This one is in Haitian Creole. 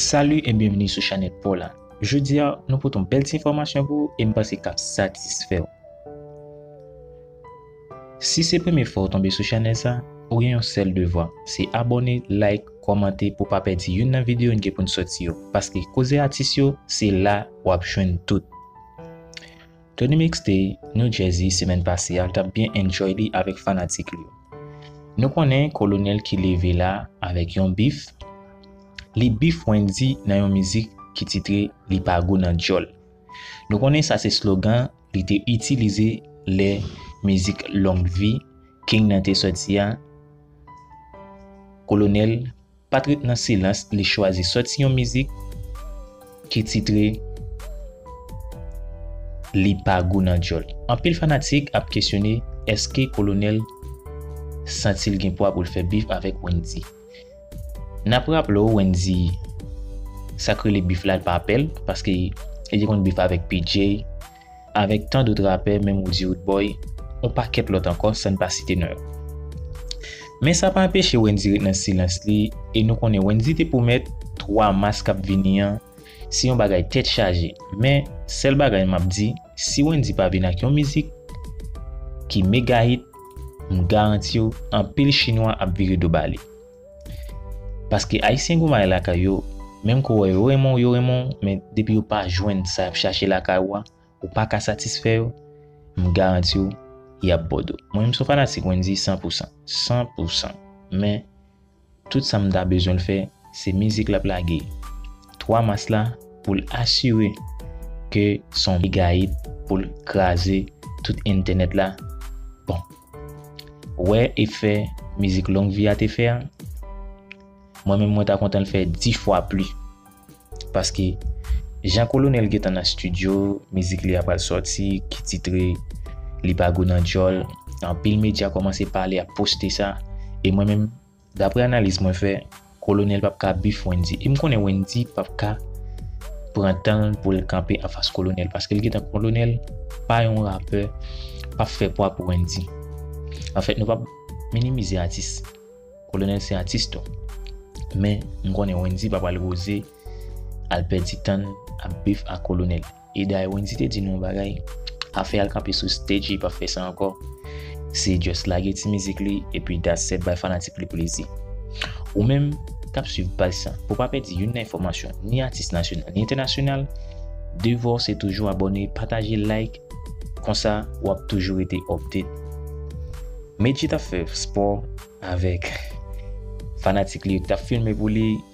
Salut et bienvenue sou chanèt paw la Jodi a nou pote yon bèl ti enfòmasyon pou ou e m panse kap satisfè w Si se premye fwa ou tonbe sou chanèl sa ou gen yon sèl devwa se abòne like kòmante pou w pa pèdi youn nan videyo n gen pou n sòti yo paske koze atis yo se la wap jwenn tout. Tony Mixte, New Jersey semèn pase a tap byen enjoy li avèk fanatik li yo. Nou konnen kolonèl ki leve la avèk yon bif, li bif Wendy nan yon mizik ki titre Li pa gou nan dyòl. Nou konnen sa se slogan li te itilize lè mizik Long Vie King nan te sòti a, kolonèl. Pat ret nan silans li chwazi sòti yon mizik ki titre Li pa gou nan dyòl. Anpil fanatik ap kesyone eske Kolonèl santi l gen pwa pou l fè bif avèk Wendy. N ap raple w Wendy sa k rele bif la l pa pè l paske li te konn bif avèk P-Jay, avèk tan dot rapè menm Woody Woodboy, on pakèt lòt ankò san n pa site non yo. Men sa pa anpeche Wendy ret nan silans li e nou konnen Wendy te pwomèt 3 mas k ap vini an se yon bagay tèt chaje men sèl bagay m ap di si Wendy pa vin ak yon mizik ki mega hit m garanti w anpil chinwa ap vire do ba li. Paske ayisyen gou may lakay yo, menm ke w wè yo renmen w yo renmen w men depi yo pa jwenn sa y ap chache lakay ou a, ou pa ka satisfè yo, m garanti w y ap bo do. Mwen menm m son fanatik Wendyy san pou san, san pou san men tout sa m ta bezwen l fè se mizik l ap lage 3 mas la pou l asire ke son mega hit pou l kraze tout entènèt la bon. Ou wè efè mizik long vi a te fè a? Mwen menm mwen ta kontan l fè 10 fwa pli. Paske jan kolonèl gentan nan studio, mizik li a pral sòti ki titre Li pa gou nan djòl, anpil medya kòmanse pale ap poste sa e mwen menm Daprè analiz mwen fè, Kolonel pap ka bif Wendy. E m konnen Wendy pap ka pran tan l pou l kanpe anfas Kolonel paske l gentan Kolonel pa yon rapè pap fè pwa pou Wendy. Anfèt nou pap minimize atis. Kolonel se atis tou. Men m konnen Wendy pa pral oze al pèdi tan l ap bif ak Kolonel. E dayè Wendy te di nou yon bagay, afè al kanpe sou stage li pap fè sa ankò. Se just lage ti mizik li epi that's set bay fanatik li plezi. Ou menm kap swiv paj sa, pou pa pèdi youn nan enfòmasyon ni atis nasyonal ni entènasyonal, devwa w se toujou abòne, pataje, like, konsa wap toujou rete update. Medjy tap fè spò avèk fanatik li yo ki tap filme pou li.